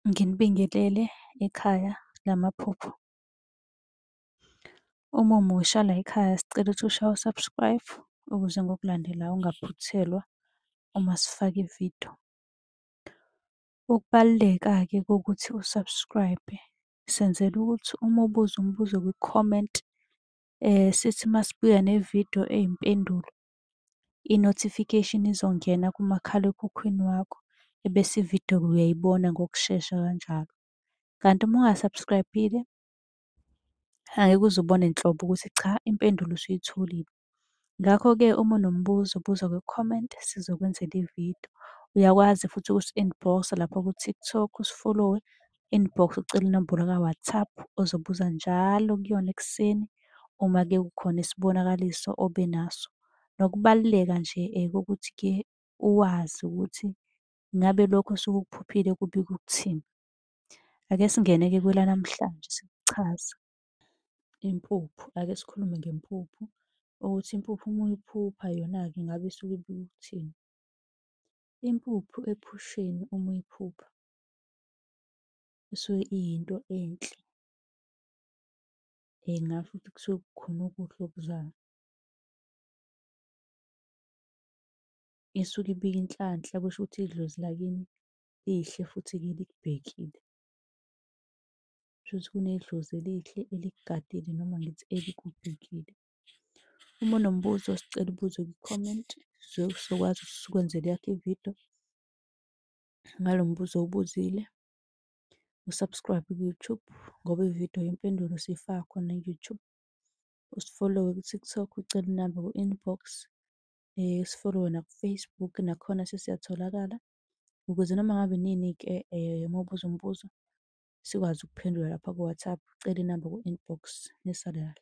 Nginibingelele ekhaya lamaphupho. Uma umusha la ekhaya sicela ukuthi ushaye u-subscribe ukuze ngokulandela ungaphuthelwa uma sifaka ividiyo. Ukubaluleka-ke kokuthi u-subscribe senzela ukuthi uma ubuza umbuzo kwi-comment sithi uma sibuya nevidiyo eyimpendulo i-notification izongena kumakhalekhukhwini wakho ebese ividiyo-ke uyayibona ngokushesha kanjalo. Kanti uma unga-subscribe-ile angeke uze ubone nhlobo ukuthi cha impendulo usuyitholile. Ngakho-ke uma unombuzo buza kwi-comment sizokwenzela ividiyo. Uyakwazi futhi ukusi-inbox-a lapha ku-TikTok usifolowe inbox ucele inombolo ka-WhatsApp ozobuza njalo kuyona ekuseni uma ke kukhona isibonakaliso obe naso. Nokubaluleka nje eh, kokuthi ke uwazi ukuthi ngabe lokho osuke ukuphuphile kubika ukuthini. Ake singene ke kwelanamhlanje sikuchaza. Impuphu, ake sikhulume ngempuphu ukuthi impuphu uma uyiphupha yona-ke ngabe isuke ibika ukuthini. Impuphu ephusheni uma uyiphupha Kusuke iyinto enhle. Ngingasho ukuthi kusuke kukhona okuhle okuzayo. Isuke ibika inhlanhla kusho ukuthi idlozi lakini lihle futhi-ke likubhekile. Kushuthi kunedlozi elihle elikugadile noma ngithi elikubhekile. Uma unombuzo sicela ubuze kwi-comment, sizobe sizokwazi ukuthi sikwenzele eyakho ividiyo. ngalo mbuzo owubuzile. U-subscribe ku-YouTube ngoba ividiyo yempendulo siyifaka khona ku-YouTube. Usifollowe ku-TikTok ucele inamba ku-inbox. Eh, usifollowe naku-Facebook nakhona sesiyatholakala ukuze noma ngabe nini-ke eh, uma ubuza umbuzo sikwazi ukuphendula lapha ku-WhatsApp. Ucele inamba ku-inbox. Nisalala.